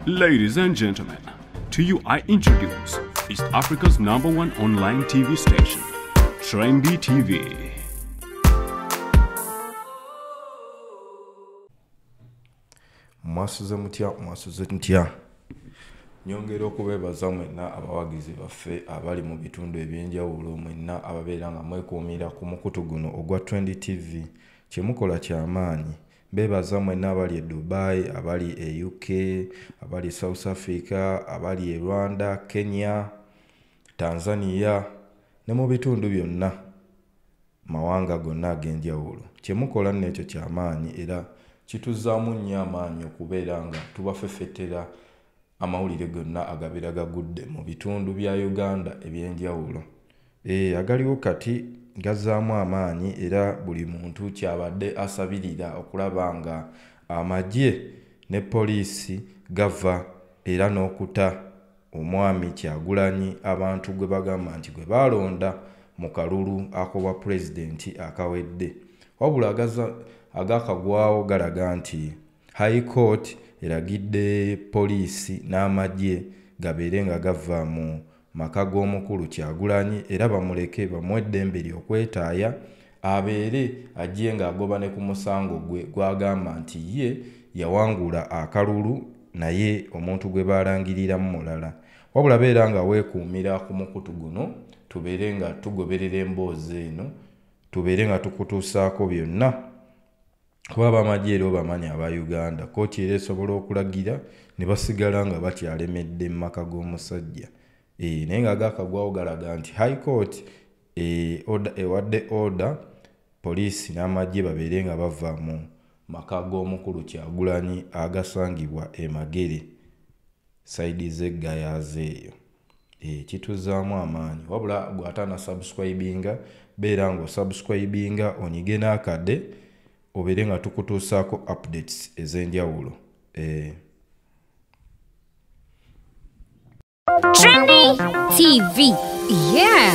Ladies and gentlemen, to you I introduce East Africa's number one online TV station, Trendy TV. mwasuze mutya mwasuze ntya nyongera okubeebaza mwenna abawagizi baffe abali mu bitundu eby'enjawulo mwenna ababeera nga mwekuumira ku mukutu guno ogwa trend tv kyemukola kyamaanyi Bebaza mwenna abali e Dubai, abali e UK, abali e South Africa, abali e Rwanda, Kenya, Tanzania ne mu bitundu byonna mawanga gonna ag'enjawulo. Kye mukola nno ekyo kya maanyi era kituzzaamu nnyo amaanyi okubeera nga tubafefettera amawulire gonna agabeera gagudde mu bitundu bya Uganda eby'enjawulo. Eh, agaliwo kati gazaamu amaanyi era buli muntu kyabadde asabirira okulaba nga amagye ne poliisi gava era n'okuta omwami kyagulanyi abantu gwe bagamba nti gwe baalonda mu kalulu akobwa pulezidenti akawedde wabula agakagwawo galaga nti High Court eragidde poliisi n'amagye gabeere nga gava mu maka g'omukulu Kyagulanyi era bamuleke bamuwe eddembe lye okwetaaya abeere ajje ng'agoba ne ku musango gwe gw'agamba nti ye yawangula akalulu naye omuntu gwe baalangiriramu mulala. Wabula beera nga weekuumira ku mukutu guno tubeere nga tugoberera emboozi eno tubeere nga tukutuusaako byonna. kuba bamagye era obamanyi aba uganda kooti era esobola okulagira ne basigala nga bakyalemedde mu maka g'omusajja eh, naye nga agakagwawo galaga nti high court eh, ewadde order poliisi n'amagye babeere nga bava mu maka g'omukulu kyagulanyi agasangibwa emagere saidi z'eggayaza eyo Eh, kituzaamu amaanyi wabula gwataana subscribinga beera nga osubscribinga onyige n'akade obeere nga tukutuusaako updates ez'enjawulo eh. Trendy TV. Yeah.